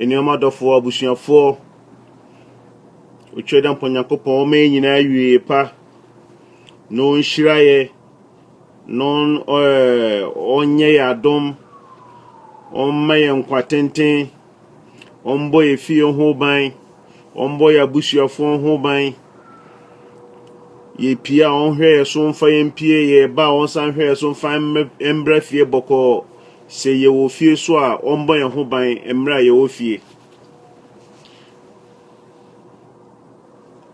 Anuanom adɔfoɔ, abusuafoɔ, ɔtwa dɛ mpa Nyankopɔn ɔma yɛ nyinaa awieɛ pa na ɔnhyira yɛ na ɔnyɛ yɛ adom ɔmma yɛ nkwa tenten ɔmbɔ yɛ fie ho ban ɔmbɔ yɛ abusuafoɔ ho ban yɛpie a ɔnhwɛ yɛ so mfa yɛn pie yɛba a ɔnsan hwɛ yɛ so mfa mbrɛ fie bɔkɔɔ Sɛ yɛwɔ fie nso a, wɔbɔ yɛn ho ban mmerɛ a yɛwɔ fie.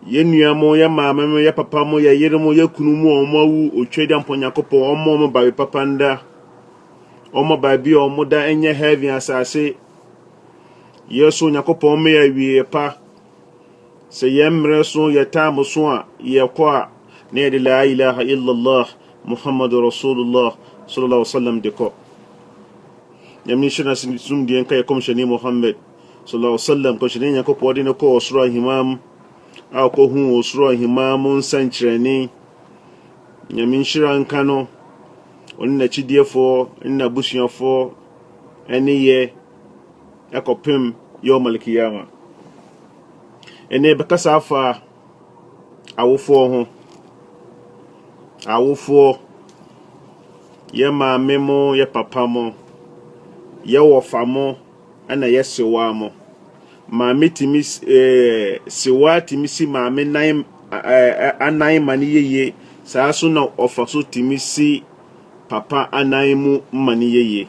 Yɛn nua mo, yɛn maame mo, yɛn papa mo, yɛn yere mo, yɛn kunu mo a wɔn awu, otwa gya mpɔ Nyankopɔn, wɔn wɔn baabi papa nda. Wɔn baabi a wɔn da nyɛ heaven asase. Yɛn nso Nyankopɔn ma yɛ awieɛ pa. Sɛ yɛn mmerɛ so yɛ time so a yɛkɔ a na yɛde laa ilaha illallah Muhammadu Rasulullah sallallahu alaihi wasallam de kɔ. Nyame nhyira na sumdie nka yɛ kɔmhyɛni Muhammad sallallahu alaihi wasallam kɔmhyɛni Nyankopɔn de no kɔ ɔsoro ahemaa mu a ɔkɔhuu ɔsoro ahemaa mu nsɛnkyerɛnne. Nyame nhyira nka no, ɔne n'akyidiefoɔ ne n'abusuafoɔ ɛne yɛ. ɛkɔpem Yawm al-Qiyamah. Ɛnna yɛbɛkasa afa awofoɔ ho. Awofoɔ, yɛ maame mo, yɛ papa mo, yɛ wɔfa mo, ɛnna yɛ sewaa mo. Maame tumi s ɛɛ sewaa tumi si maame nan ɛɛ anan ma no yɛ yie, saa nso na ɔfa so tumi si papa anan mu ma no yɛ yie.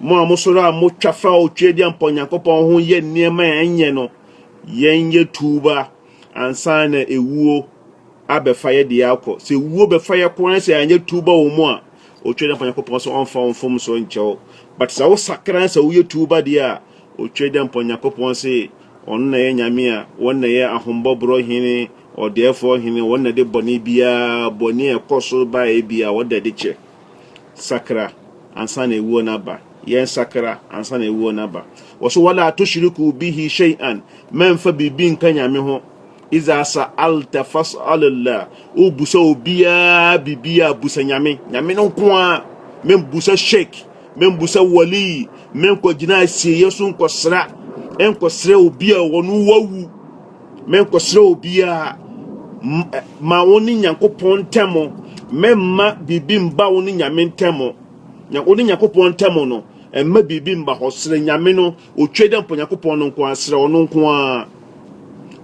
Mo a mosɔre a motwa fa a otweadia mpa Onyankopɔn ho yɛ nneɛma a ɛnyɛ no, yɛnyɛ tuuba ansa na ewuo abɛfa yɛ deɛ akɔ. Sɛ ewuo bɛfa yɛ kɔ na sɛ yɛanyɛ tuuba wɔ mu a, otweadia mpa Onyankopɔn sɛ ɔmfa wo mfomsoɔ nkyɛ wo. But sɛ wosakra na sɛ woyɛ tuuba deɛ a, otweadia mpa Onyankopɔn se ɔno na ɛyɛ Nyame a, wɔn na ɛyɛ ahombɔborɔ hene, ɔdɛɛfoɔ hene, wɔn na ɛde bɔne biara, bɔne a ɛkɔ so ba a ɛyɛ biara, wɔn na ɛde kyɛ. sakra ansa na awuo no aba. Yɛnsakra ansa na awuo no aba. Wɔso wala tushriku bihi shay'an, mɛmfa biribi nka Nyame ho. Iza sa'alta fas'alillah, wobusa obiara biribi a busa Nyame. Nyame no nko a, membusa sheik, membusa wali, menkɔgyina asieeɛ so nkɔsra, nkɔsrɛ obi a ɔno wawu. Menkɔsrɛ obiara ma wo ne Nyankopɔn ntam. Mɛmma biribi mba wo ne Nyame ntam. Wo ne Nyankopɔn ntam no, mma biribi mba hɔ. Srɛ Nyame no, otwa dɛ mpo Nyankopɔn no nko ara, srɛ ɔno nko ara.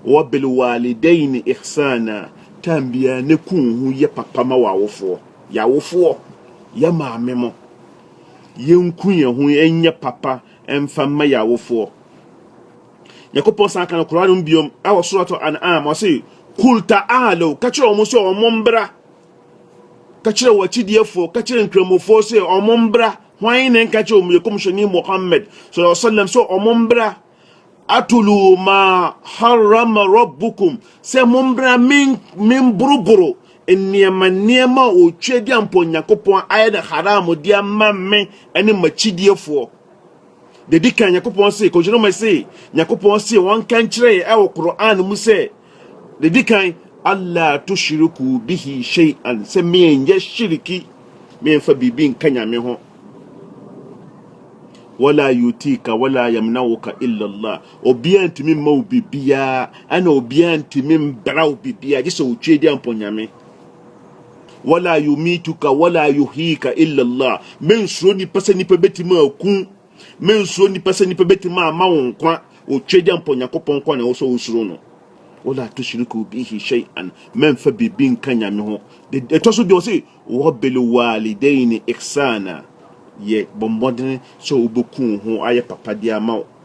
Wabilwalidaini ihsana, tam biara ne ku wo ho yɛ papa ma w'awofoɔ. Yɛ awofoɔ, yɛ maame mo. Yɛnku yɛn ho nyɛ papa mfa mma yɛn awofoɔ. Nyankopɔn san ka no Quran no mu biom ɛwɔ Surah Al-An'am ɔse Kul ta'alaw ka kyerɛ wɔn sɛ wɔn mbra ka kyerɛ wɔn akyidiefoɔ ka kyerɛ nkramofoɔ sɛ wɔn mbra hwan ne nka kyerɛ wɔn yɛ kɔmhyɛni Muhammad sallallahu alaihi wasallam sɛ wɔn mbra atulu ma harama rabbukum sɛ mo mbra men memboroboro nneɛma nneɛma a ɔtwa di ampɔ Nyankopɔn ayɛ no haram de ama me ne m'akyidiefoɔ Deɛ di kan, Nyankopɔn se, Kɔmhyɛni Muhammad se, Nyankopɔn se wɔnka nkyerɛ yɛ ɛwɔ Qur'an mu sɛ, deɛ di kan, Allah tushiriku bihi shay'an, sɛ menyɛ shiriki, memfa biribi nka Nyame ho. Wala yutika wala yamnauka illa Allah. Obiara ntumi mma wo biribiara, ɛna obiara ntumi mbra wo biribiara, gye sɛ otwe di ampɔ Nyame. Wala yumituka wala yuhika illa Allah. Mensuro nipa sɛ nipa bɛtumi aku. Mensuro nipa sɛ nipa bɛtumi ama wo nkwa. Otwagya mpo Nyankopɔn nko na ɛwɔ sɛ wosuro no. Wala tushriku bihi shay'an. Mɛmfa biribi nka Nyame ho. Ɛtɔ so deɛ ɔse wabil walidaini ihsana. Yɛ bɔ mmɔden sɛ wobɛku wo ho ayɛ papa de ama wo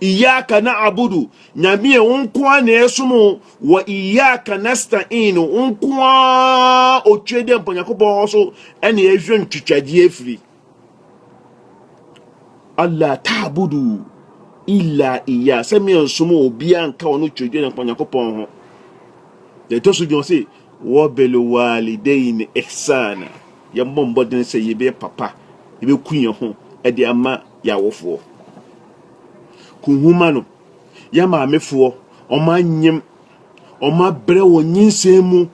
Iyaka na abudu, Nyame yɛ wo nko ara na yɛsom o, wɔ Iyaka nasta in, wo nko ara otwe dɛ mpa Nyankopɔn hɔ so ɛna yɛhwɛ ntwitwadeɛ afiri. Allah ta abudu illa iya, sɛ meɛ nsom obiara nka ɔno twɛ dwa mpa Nyankopɔn ho. Deɛ ɛtɔ so bi ɔse, wɔbel walidain ihsana, yɛmmɔ mbɔden sɛ yɛbɛyɛ papa, yɛbɛku yɛn ho ɛde ama y'awofoɔ. Kunhuma no, y'amaamefoɔ, wɔn anyem, wɔn abrɛ wɔ nyinsɛn mu.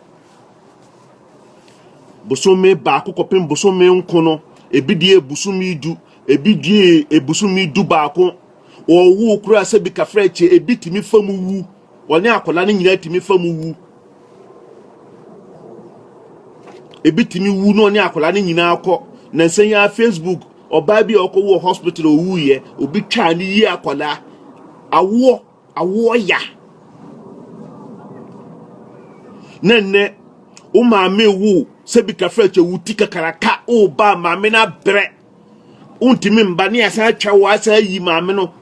Bosome baako kɔpem bosome nko no, ebi deɛ ebusumi du, ebi deɛ ebusumi du baako. Wɔwo koraa sɛ bi kafra kyɛ, ebi tumi fa mu wu. Wɔne akwadaa no nyinaa tumi fa mu wu. Ebi tumi wu na ɔne akwadaa no nyinaa kɔ. Na nsɛn yi a Facebook ɔbaa bi a ɔkɔ wɔ hospital owu yɛ obi twaa ne yie akwadaa awoɔ awoɔ ya. Na nnɛ wo maame wo sɛbi kafra kyɛ wuti kakaraka wo ba maame no abrɛ wontumi mba ne yɛasan atwa wo asan ayi maame no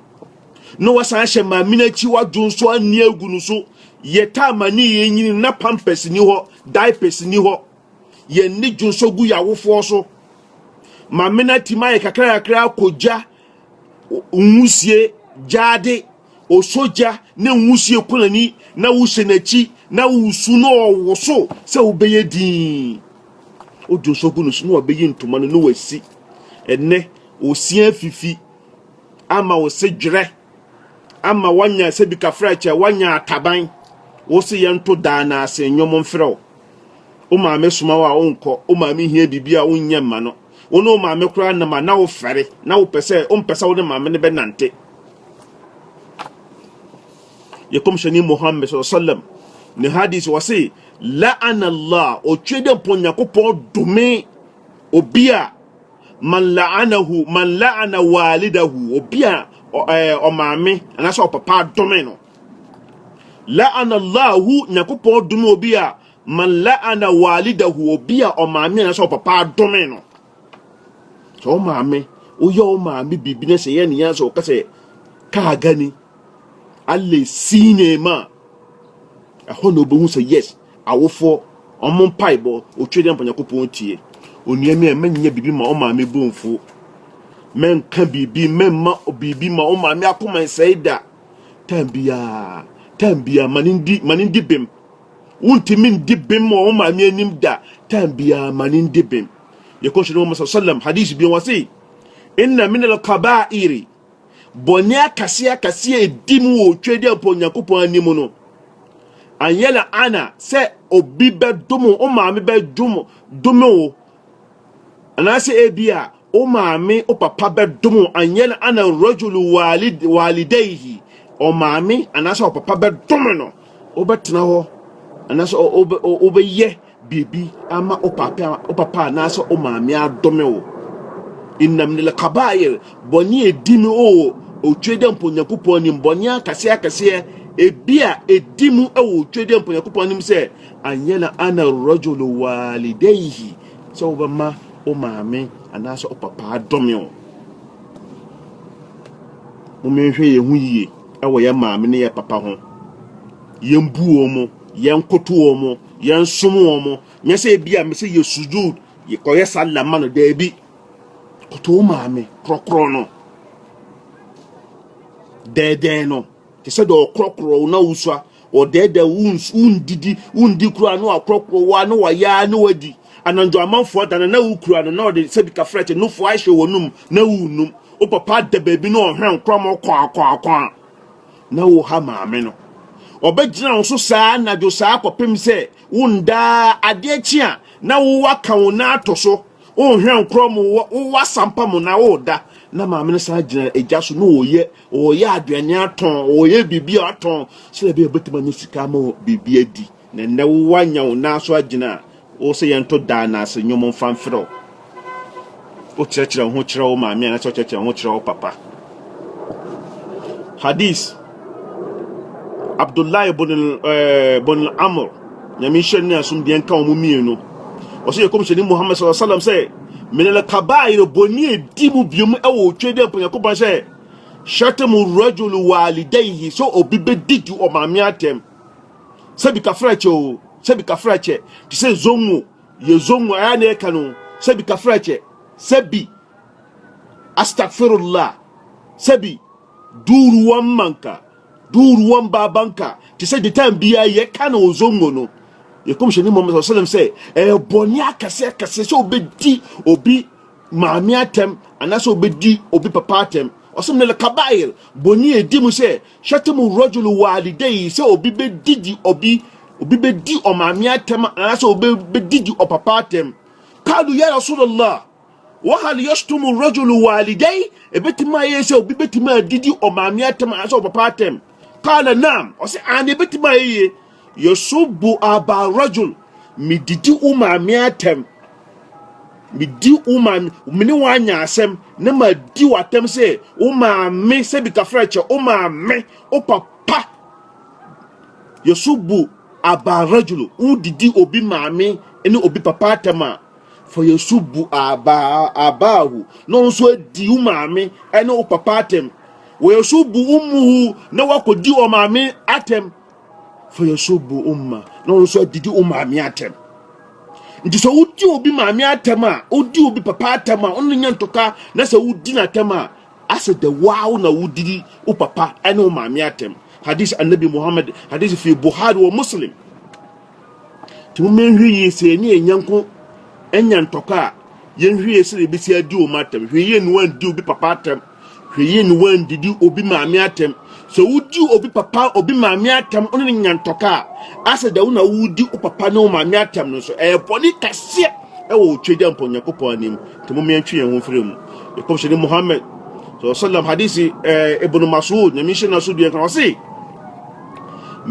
na wasan ahyɛ maame no akyi wadwo nso anni agu no so yɛtaa ma ne yɛ nyini na pampers ni hɔ diapers ni hɔ yɛn ne dwo nso gu yɛawofoɔ so maame no atumi ayɛ kakrakakra akɔgya nwusie gyaade Ɔsɔ gya na nwusie kunani na wohyɛ n'akyi na wosu na ɔwoso sɛ wobɛyɛ dinn. Wode ɔsɔ gu no so na wabɛyi ntoma no na wasi. Ɛnnɛ, ɔsia afifi ama wo se dwerɛ ama woanya sɛ bi kafra kyɛ, woanya ataban. Wo se yɛnto daa na ase nnwom mfrɛ wo. Wo maame soma wo a, wonkɔ. Wo maame hia biribi a, wonyɛ mma no. Wo ne wo maame koraa nam a, na wofɛre, na wopɛ sɛ wompɛ sɛ wo ne maame no bɛnante. Yɛ kɔmhyɛni Muhammad sallallahu alaihi wasallam ne hadis wɔ se, la'ana Allah, otwe dɛ mpɔ Nyankopɔn dome obi a man la'anahu man la'ana walidahu, obi a ɔmaame anaasɛ ɔpapa adome no. La'ana Allahu, Nyankopɔn dome obi a man la'ana walidahu, obi a ɔmaame anaasɛ ɔpapa adome no. Sɛ wo maame, woyɛ wo maame biribi na sɛ yɛ ne yɛn sɛ wɔka sɛ kaa gani, ale sinema, ɛhɔ na wobɛhu sɛ yes, awofoɔ, ɔmo mpaebɔ, otwe dɛ mpa Nyankopɔn tie. Onua mi a mɛnyɛ biribi ma wo maame bomfo, mɛnka biribi, mɛmma biribi ma wo maame akoma nsɛe da. Time biara, time biara, ma ne ndi, ma ne ndi bem. Wontumi ndi bem wɔ wo maame anim da. Time biara, ma ne ndi bem. Yɛkɔhyɛ no Muhammad sallam, hadith bi wɔ se, inna min al-kaba'iri, bɔne akɛseɛ akɛseɛ ɛdi mu wɔ otwadi a ɔpɔ Nyankopɔn anim no, anyɛla ana sɛ obi bɛdom wo maame bɛdom dome wo Anaasɛ ebia wo maame, wo papa bɛdom wo, an yɛn ana rajulu walid walidaihi, ɔmaame anaasɛ ɔpapa bɛdom no, wobɛtena hɔ anaasɛ o- o- o- wobɛyɛ biribi ama wo papa wo papa anaasɛ wo maame adome wo. Inna min al-kabair, bɔne a ɛdi mu o, otwe dɛ mpo Nyankopɔn anim, bɔne akɛseɛ akɛseɛ, ebi a ɛdi mu wɔ otwe dɛ mpo Nyankopɔn anim sɛ, an yɛn ana rajulu walidaihi, sɛ wobɛma wo maame anaasɛ wo papa adome wo. Mommɛhwɛ yɛn ho yie wɔ yɛn maame ne yɛn papa ho. Yɛn bu wɔn mo, yɛn koto wɔn mo, yɛn som wɔn mo. Nyɛ sɛ ebi a mesɛ yɛ sujud, yɛkɔyɛ sallah ma no daabi. Koto wo maame korɔkorɔ no. Dɛɛdɛɛ no, te sɛ deɛ ɔkorɔkorɔ wo na wosua wɔdɛɛdɛ wo wondidi wondi koraa na wakorɔkorɔ wo a na wayɛ a na wadi anadwo amanfoɔ da no na wokura no na ɔde sɛ bikafrɛkye nofoɔ ahyɛ w'anum na wonum wo papa da baabi na ɔhwɛ nkorɔmɔ kwaakwaakwaa na wo ha maame no ɔbɛgyina wo so saa anadwo saa kɔpem sɛ wondaa adeɛ kye a na wowaka wo na ato so wonhwɛ nkorɔmɔ wowɔ asampa mu na woda na maame no san gyina agya so na ɔyɛ ɔreyɛ aduane atɔn ɔreyɛ biribi a ɔatɔn sɛ ɛbɛyɛ ɔbɛtumi anya sika ama biribi adi na nnɛ wowɔ anya wo nan so agyina a wo sɛ yɛnto daa na ase nnwom mfa mfrɛ wo wokyerɛkyerɛ wo ho kyerɛ wo maame anaasɛ wokyerɛkyerɛ wo ho kyerɛ wo papa hadis abdullah ibn eh, ibn amr nyame nhyɛ ne asomdwoeɛ nka wɔn mmienu ɔsɛ yɛkɔmhyɛni muhammad sallallahu alaihi wasallam sɛ Mede no kabaa yere bɔne a ɛdi mu bio mu wɔ otwa dɛ mpo Nyankopɔn sɛ, Shatmu rajulu walidayhi, sɛ obi bɛdi di ɔmaame atɛm, sɛ bi kafra kyɛ o, sɛ bi kafra kyɛ, te sɛ zongo, yɛ zongo, ayɛ na ɛka no, sɛ bi kafra kyɛ, sɛ bi astagfirullah, sɛ bi duuru wɔn manka, Duuru wɔn baa banka te sɛ detan biara yɛka no ozongo no. Yɛkɔmhyɛni Muhammad sallallahu alaihi wasallam sɛ ɛyɛ bɔne akɛse akɛse sɛ obedi obi maame atɛm anaasɛ obedi obi papa atɛm. Ɔsɛ minal kabair bɔne a edi mu sɛ shatamu rajulu walidayhi sɛ obi bedidi obi obi bedi ɔmaame atɛm anaasɛ obi bedidi ɔpapa atɛm. Kalu ya Rasulallah. Wahal yashtumu rajulu walidai, ebetumi ayɛ sɛ obi betumi adidi ɔmaame atɛm anaasɛ ɔpapa atɛm. Kala naam, ɔsɛ ane ebetumi ayɛ yie. Yasubu aba rajul, medidi wo maame atɛm, medi wo maame, me ne wɔn anya asɛm na madi wo atɛm sɛ wo maame sɛ bi kafra kyɛ wo maame, wo papa. Yasubu aba rajulu, wodidi obi maame ne obi papa atɛm a, Fa yɛn so bu Abaahu na ɔno nso adi wo maame ne wo papa atɛm. Wɔ yɛn so bu Ummuhu na wakɔdi wɔn maame atɛm. Fa yɛn so bu Umma na ɔno nso adidi wo maame atɛm. Nti sɛ wodi obi maame atɛm a, wodi obi papa atɛm a, ɔno nya ntɔka na sɛ wodi n'atɛm a, asɛ dɛ waaw na wodidi wo papa ne wo maame atɛm. Hadis Annabi Muhammad, hadis fi Buhari wɔ Muslim. Nti mo mɛnhwɛ yie sɛ yɛne yɛn nyɛnko anya ntɔkwa a yɛnhwɛ yie sɛ deɛ ɛbɛsi adi wɔn atɛm hwɛ yie ne wɔandi obi papa atɛm hwɛ yie ne wɔandidi obi maame atɛm sɛ wodi obi papa obi maame atɛm ɔne ne nya ntɔkwa a asɛ da wo na wodi wo papa ne wo maame atɛm no nso ɛyɛ bɔne kɛseɛ ɛwɔ otwa gya mpɔ nyankopɔn anim nti mo mɛntwe yɛn ho mfiri mu yɛkɔmhyɛne Muhammad sallam hadisi eh, ibn Mas'ud nyame nhyɛ no so deɛ nka ɔse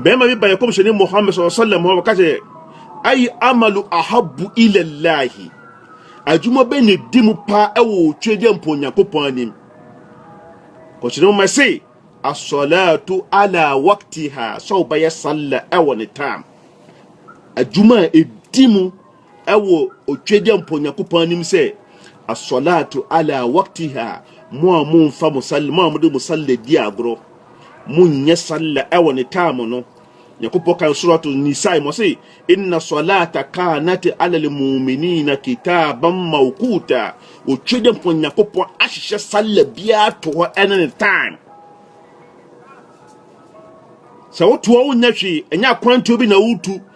Bɛrima bi baeɛ kɔmhyɛni Muhammad sallallahu alaihi wasallam hɔ wɔka sɛ ayi amalu ahabu ilallahi adwuma bɛ ne di mu paa ɛwɔ twe deɛ mpo Onyankopɔn anim kɔmhyɛni Muhammad se asɔlatu ala waktiha sɛ wobɛyɛ salla ɛwɔ ne tam adwuma a ɛdi mu ɛwɔ otwagya mpɔ nyankopɔn anim sɛ asɔlato ala waktiha mo a momfa mo sal mo a mode mo salla di agorɔ monyɛ salla ɛwɔ ne taamo no nyankopɔn kan surato nisae mo se inna salata kanat ala lmuminina kitaban mawkuta otwagya mpɔ nyankopɔn ahyehyɛ salla biara to hɔ ɛne ne time sɛ wotoa wonyɛ hwee ɛnyɛ akwantuo bi na wotu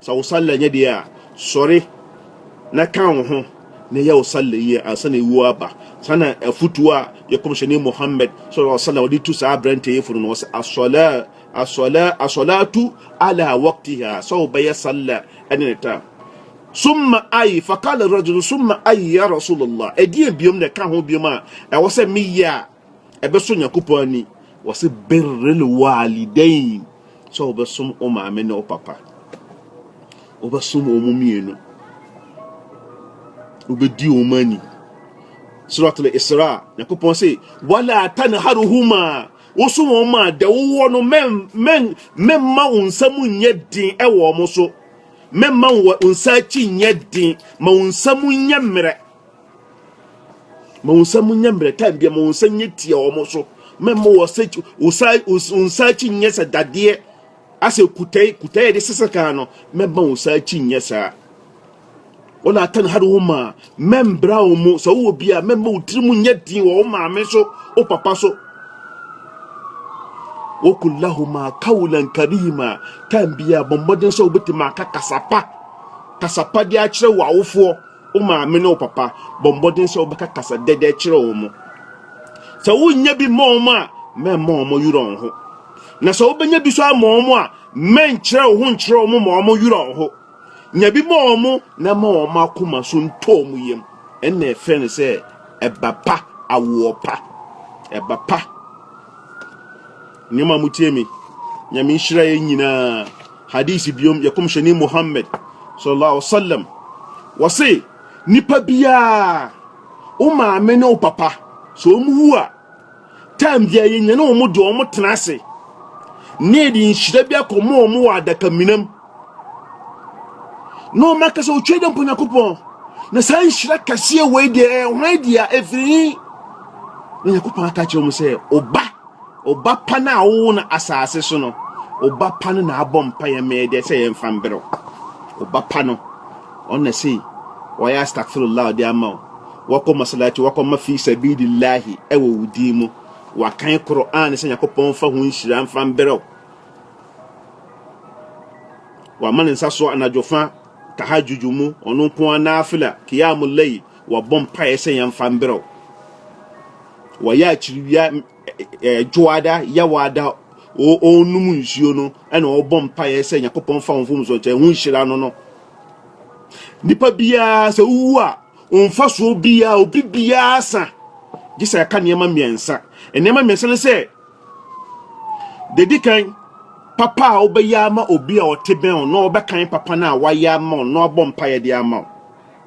Sɛ wo salla nyɛ deɛ a, sɔre na ka wo ho na yɛ wo salla yie ansa na ewuo aba. Saa na afutuo a yɛ Kɔmhyɛni Muhammad sɔlɔlɔ alaihi wasalam de tu saa aberanteɛ yi fo no na ɔse, Asɔla, asɔla, asɔlatu ala waktiha, sɛ wo bɛyɛ salla ɛne ne tam. Summa ayi, fakala rajulu summa ayi ya Rasulallah, ɛdeɛ biom na ɛka ho biom a ɛwɔ sɛ meyɛ a, Ɛbɛsɔ Nyankopɔn ani. Wɔse birril waalidain, sɛ wobɛsom wo maame ne wo papa. Wobɛsom wɔn mmienu. Wobɛdi wɔn ani. Surat al-Isra, Nyankopɔn se, wala tanharuhuma, wosom wɔn ma dɛ wowɔ no mɛmma wo nsa mu nyɛ den ɛwɔ wɔn so. Mɛmma wo nsa akyi nyɛ den, ma wo nsa mu nyɛ mmerɛ. ma wo nsa mu nyɛ mmerɛ time bia ma wo nsa nyɛ tia wɔn so mɛma wɔ sɛ wosa nsa akyi nyɛ sɛ dadeɛ asɛ kutɛe kutɛe de sesa kan no mɛma wo nsa akyi nyɛ saa wɔn ata no ha de wo maa mɛmbra wɔn mu sɛ wowɔ bi a mɛma wo tiri mu nyɛ din wɔ wo maame so wo papa so wɔkɔ lahoma kawulan karima time bia bɔ mmɔden sɛ wobɛtumi aka kasapa kasapa de akyerɛ wɔ awofoɔ Wo maame ne wo papa, bɔ mmɔden sɛ wobɛka kasa dɛdɛ kyerɛ wɔn. Sɛ wonnya bi mma wɔn a, mɛmma wɔn yera wɔn ho. Na sɛ wobɛnya bi so ama wɔn a, mɛnkyerɛ wo ho nkyerɛ wɔn ma wɔn yera wɔn ho. Nya bi ma wɔn na ma wɔn akoma so ntɔ wɔn yam. Ɛnna ɛfrɛ no sɛ ɛba pa, awoɔ pa. Ɛba pa. Nneɛma a motie me, Nyame nhyira yɛn nyinaa. Hadith biom yɛ kɔmhyɛni Muhammad sallallahu alaihi wasallam wɔse nipa biara wo maame ne wo papa so wɔn wu a time biara yɛ nyane wɔn de wɔn tena ase ne yɛde nhyira bi akɔma wɔn wɔ adaka minam na wɔn aka sɛ otwa dɛ mpo nyakopɔn na saa nhyira kɛseɛ wei deɛ ɛhwan deɛ ɛfiri nyakopɔn aka kyerɛ wɔn sɛ ɔba Wo ba pa no a wowoo no asase so no, wo ba pa no na abɔ mpaeɛ ma yɛ deɛ sɛ yɛmfa mbrɛ wo. Wo ba pa no, ɔno na sei wɔayɛ astagfirullah ɔde ama wo. Wakɔ masalakyi, wakɔma fi sabilillahi ɛwɔ wo din mu. Wakan Qur'aan sɛ Nyankopɔn mfa ho nhyira mfa mbrɛ wo. Wama ne nsa so anadwo fa tahajjuju mu, ɔno nko ara naafila, qiyamul layl, Wɔbɔ mpaeɛ sɛ yɛmfa mberɛw. Wɔyɛ akyiriwia dwoada, yawaada, wɔnom nsuo no ɛna wɔbɔ mpaeɛ sɛ Nyankopɔn fa wɔn mfomsoɔ nkyɛ ho nhyira no no. Nipa biara sɛ wowu a mfasoɔ biara obi biara sa gye sɛ ɛka nneɛma mmiɛnsa. Nneɛma mmiɛnsa no sɛ dedi kan papa a wobɛyɛ ama obi a ɔte bɛn wo na ɔbɛkan papa no a wayɛ ama wo na wabɔ mpaeɛ de ama wo.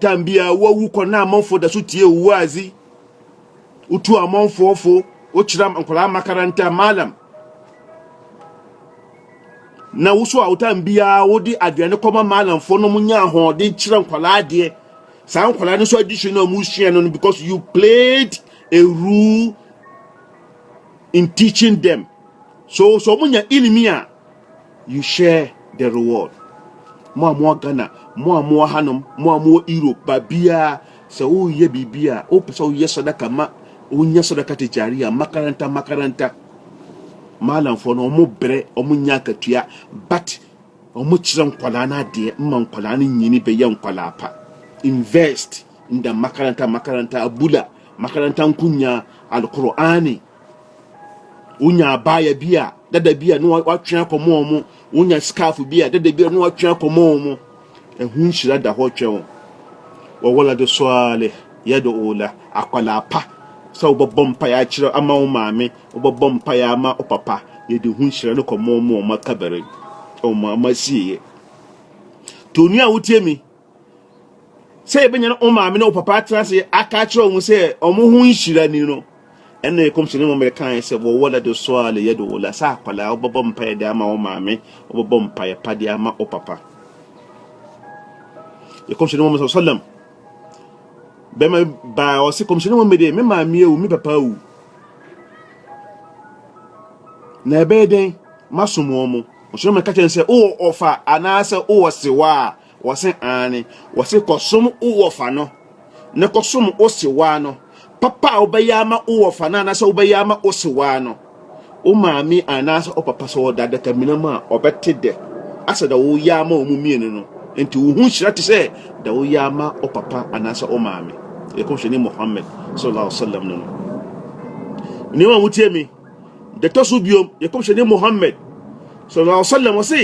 Tan biara woawu kɔ na amanfoɔ da so tie wo waazi. Wotu amanfoɔ fo, wokyerɛ nkwadaa makaranta, malam. Na wo so a wotan biara wode aduane kɔma malamfoɔ na wɔnya ahoɔden kyerɛ nkwadaa adeɛ. Saa nkwadaa no nso adesua no a wɔsua no no because you played a role in teaching them. So so wɔnya ilimi a You share the reward. Mo a mowɔ Ghana, mo a mowɔ hanom, mo a mowɔ Europe, baabiara sɛ woyɛ biribi a wopɛ sɛ woyɛ sadaka ma wonya sadaka tijari a makaranta makaranta maalamfoɔ no ɔmo brɛ ɔmo nya akatua but ɔmo kyerɛ nkwadaa no adeɛ ma nkwadaa no nyini bɛyɛ nkwadaa pa invest in the makaranta makaranta abula makaranta nkonya alqur'ani wonya abaayɛ bi a dada bi a na watwe akɔma wɔn wonya scarf bi a dada bi a na watwe akɔma wɔn ɛho nhyira da hɔ twɛ wɔn wɔwɔla de sɔɔle yɛde ola akwadaa pa sɛ wobɛbɔ mpaeɛ akyerɛ ama wo maame wobɛbɔ mpaeɛ ama wo papa yɛde ho nhyira no kɔma wɔn wɔn akabɛrɛ wɔn ama sieɛ to onua a wotie mi sɛ yɛbɛnya no wo maame ne wo papa atena ase aka akyerɛ wɔn sɛ wɔn ho nhyira ni no ɛna ɛkɔmhyɛ ne mɔmmerɛ kaeɛ sɛ wɔwɔla de soa le yɛ de wɔla sɛ akwadaa wobɛbɔ mpaeɛ de ama wo maame wobɛbɔ mpaeɛ pa de ama wo papa yɛkɔmhyɛ ne mɔmmerɛ sɔlɛm bɛma baa ɔse kɔmhyɛ ne mɔmmerɛ me maame awu me papa awu na ɛbɛyɛ dɛn masom wɔn mo ɔhyɛ mɛka kyɛn sɛ wowɔ ɔfa anaasɛ wowɔ sewa a Wɔse aane, wɔse kɔsom wo wɔfa no, ne kɔsom wo sewaa no, papa a wobɛyɛ ama wo wɔfa no anaasɛ wobɛyɛ ama wo sewaa no, wo maame anaasɛ wo papa sɛ ɔda adakamina mu a, ɔbɛte dɛ asɛ da woyɛ ama wɔn mmienu no, nti wo ho nhyira te sɛ da woyɛ ama wo papa anaasɛ wo maame. Yɛkɔmhyɛni Muhammad sallallahu alaihi wasallam no no. Nneɛma a motie me. Deɛ ɛtɔ so biom, yɛ kɔmhyɛni Muhammad sallallahu alaihi wasallam ɔse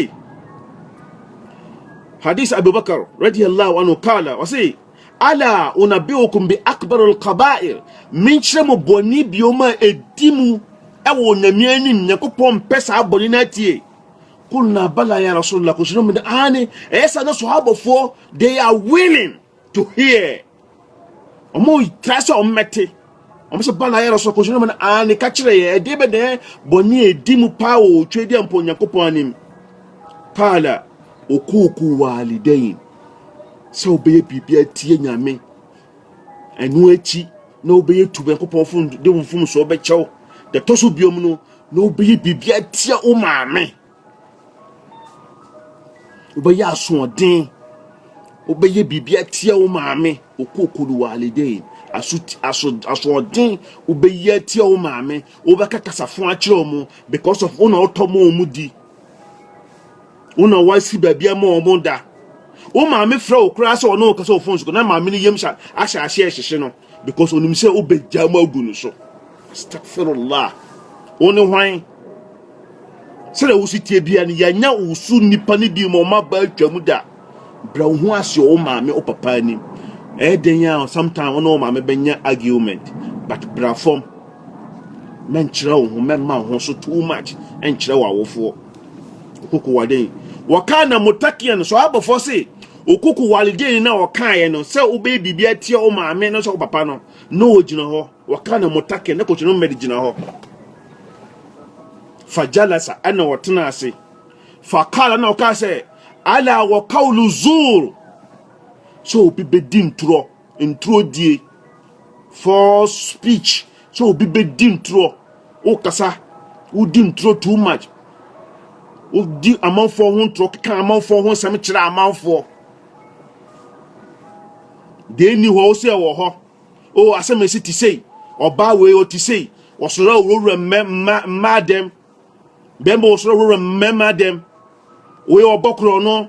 hadis Abubakar radiyallahu anhu kala ɔse ala unabiukum bi akbarul kabair menkyerɛ mo bɔne biom a ɛdi mu ɛwɔ onyame anim nyankopɔn mpɛ saa bɔne no atie kulna bala ya rasulullah kɔhyɛni mu de aane ɛyɛ saa na sahabafoɔ they are willing to hear ɔmo tra sɛ ɔmo mɛte ɔmo sɛ bala yɛ rɔsɔ kɔsɔ ɔmo na aa ne ka kyerɛ yɛ ɛde bɛ dɛ bɔne a ɛdi mu paa wɔ otwe deɛ mpo onyankopɔn anim kaala okuuku waalidain sɛ wobɛyɛ biribi atie nyame ɛno akyi na wobɛyɛ tu nyankopɔn fom de wo mfom so wobɛkyɛw deɛ tɔ so biom no na wobɛyɛ biribi atia wo maame Wobɛyɛ asoɔden. Wobɛyɛ biribi atia wo maame. Okokulu walidain. Aso aso asoɔden wobɛyɛ atia wo maame. Wobɛka kasafo akyerɛ wɔn because of wo na wotɔ ma wɔn di. Wo na wasi baabi ama wɔn da. Wo maame frɛ wo koraa sɛ ɔne wo kasa wɔ phone so na maame no yam hyɛ ahyɛ aseɛ hyehye no. because onim sɛ wobɛgya mu agu no so stafirullah wo ne hwan sɛdeɛ wo si tie bia no yɛanya wo so nnipa no bi ma ɔma ba atwa mu da brɛ wo ho ase wo maame wo papa anim ɛyɛ den a sometimes wo ne wo maame bɛnya argument but bra fam mɛnkyerɛ wo ho mɛma wo ho so too much ɛnkyerɛ wo awofoɔ koko waden wɔkaa na mutakian so abɔfoɔ se Wo koko waledeni no a ɔkaeɛ no sɛ wobɛyɛ biribi atia wo maame no sɛ wo papa no na ɔgyina hɔ wɔka no motake ne kɔkyerɛ no mmɛde gyina hɔ fa jalasa ɛna ɔtena ase fa kala na ɔka sɛ ala wɔ kaulu zuur sɛ obi bɛdi ntorɔ Nturo die, false speech, sɛ obi bɛdi nturo, wokasa, wodi nturo too much, wodi amanfoɔ ho nturo, keka amanfoɔ ho nsɛm kyerɛ amanfoɔ. Deɛ ɛnni hɔ, wo sɛ ɛwɔ hɔ, o asɛm ɛsi te sei, ɔbaa wei ɔte sei, wɔsoro a wɔwura mmaa dɛm, bɛmba wɔsoro a wɔwura mmarima dɛm, wei ɔbɔ korɔ no,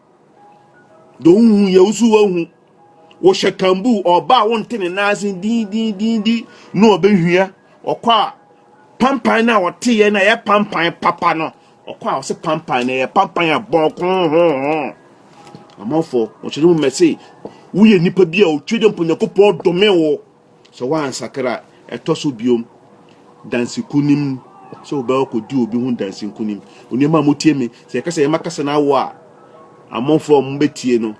do hu yɛ wo so woahu wohyɛ kambu ɔba a wonte ne nan ase dindindindi na ɔbɛhwia ɔkɔ a pampan no a ɔteyɛ no a ɛyɛ pampan papa no ɔkɔ a ɔse pampan no ɛyɛ pampan a bɔnkohoho amanfoɔ wɔkyerɛ mu mɛse woyɛ nipa bi a ɔtwe dɛ mpo nyankopɔn dome wo Sɛ woansakra a, ɛtɔ so bio, dansi nkonim, sɛ wobɛkɔ akɔdi obi ho dansi nkonim. Onuamaa mo tie me, sɛ yɛka sɛ yɛma kasa no awɔ a, amanfoɔ a wɔbɛtie no,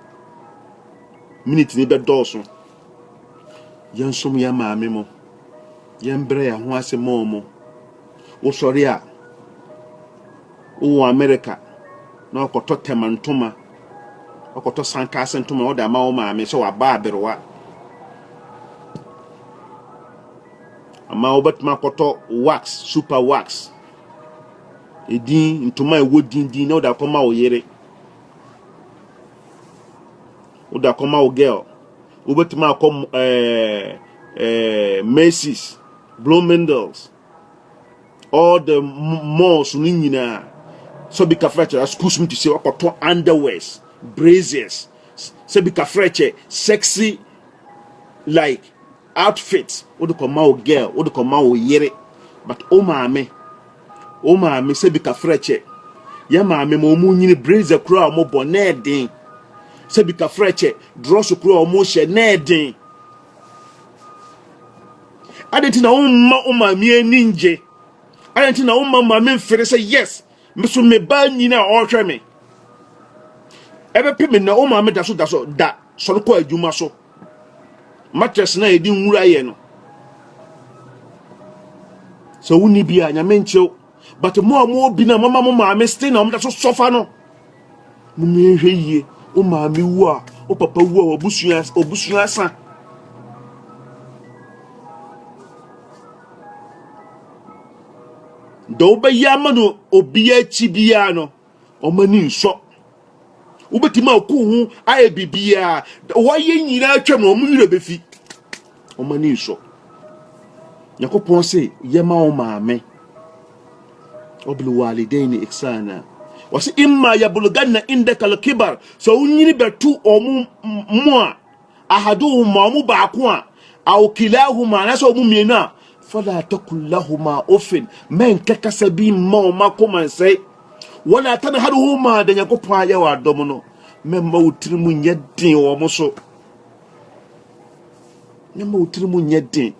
minute no bɛdɔɔso. Yɛnsom yɛn maame mo, yɛmbrɛ yɛn ho ase mɔɔ mo. Wosɔre a, Wowɔ Amerika na woakɔtɔ tɛma ntoma, woakɔtɔ sankase ntoma na wode ama wo maame sɛ waba aberewa. Ama wobɛtumi akɔtɔ wax, super wax, edin, ntoma a ɛwɔ din din na wode akɔma wo yere. Wode akɔma wo girl. Wobɛtumi akɔ ɛɛ eh, ɛɛ eh, Macy's, Bloomingdale's. all the malls no nyinaa sɛ obi ka frɛkyɛ schools mu te sɛ wakɔtɔ underwears braziers sɛ bi ka frɛkyɛ sexy like outfit wode kɔma wo girl wode kɔma wo yere but o maame o maame sɛ bi ka frɛkyɛ yɛ maame ma ɔmo nyini brazier kura a ɔmo bɔ na ɛden sɛ bi ka frɛkyɛ drɔso kura a ɔmo hyɛ na ɛden Adɛn nti na womma wo maame ani ngye? Adɛn nti na womma maame mfiri sɛ yes, me so me ba nyin a ɔrehwɛ me? Ɛbɛpɛ me na wo maame da so da so da sɔre kɔ adwuma so. Matress na yɛde nwura yɛ no. Sɛ wonni bi a, nyame nkyew. but mo a mo obi na mama mo maame still na wɔn so sɔfa no mo mmea hwɛ yie o maame wu a o papa wu a obusua obusua asa deɛ wobɛyɛ ama no obi akyi biara no wɔn ani nsɔ wobɛtumi aku ho ayɛ biribiaa wɔayɛ nyinaa twam no wɔn werɛ bɛfi wɔn ani nsɔ nyankopɔn se yɛma wo maame ɔbilwalidain ne ihsana wɔse imma yabuluganna indaka alkibar sɛ wonyini bɛto wɔn mu a ahaduhuma, wɔn baako a, aw kilahuma, anaasɛ wɔn mmienu a, fala takul lahuma ofin, mɛnka kasa bi mma wɔn akoma nsɛe. Wala tanharhuma, deɛ Nyankopɔn ayɛ wɔ adɔm no, mɛmma wo tiri mu nyɛ den wɔn so. Mɛmma wo tiri mu nyɛ den.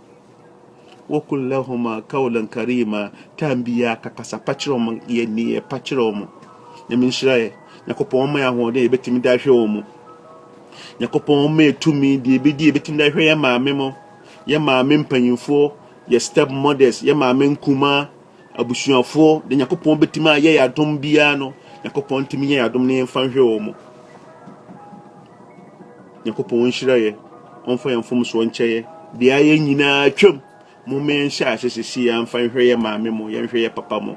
Waqul lahuma qawlan karima, time biara ka kasa pa kyerɛ wɔn, yɛ nneyɛɛ pa kyerɛ wɔn. Nyame nhyira yɛ. Nyankopɔn ɔmma yɛ ahoɔden a yɛbɛtumi de ahwɛ wɔn mu. Nyankopɔn ɔmma yɛ tumi deɛ yɛbɛdi yɛbɛtumi de ahwɛ yɛ maame mo, yɛ maame mpanyinfoɔ, yɛ step mothers, yɛ maame nkumaa, Abusuafoɔ, deɛ Nyankopɔn bɛtumi ayɛ yɛ adom biara no, Nyankopɔn ntumi nyɛ yɛ adom no yɛmfa nhwɛ wɔn mo. Nyankopɔn nhyira yɛ, ɔmfa yɛn mfomsoɔ nkyɛ yɛ. Deɛ ayɛ nyinaa atwam. Momma yɛnhyɛ ase sisi yɛmfa nhwɛ yɛ maame mo, yɛnhwɛ yɛ papa mo.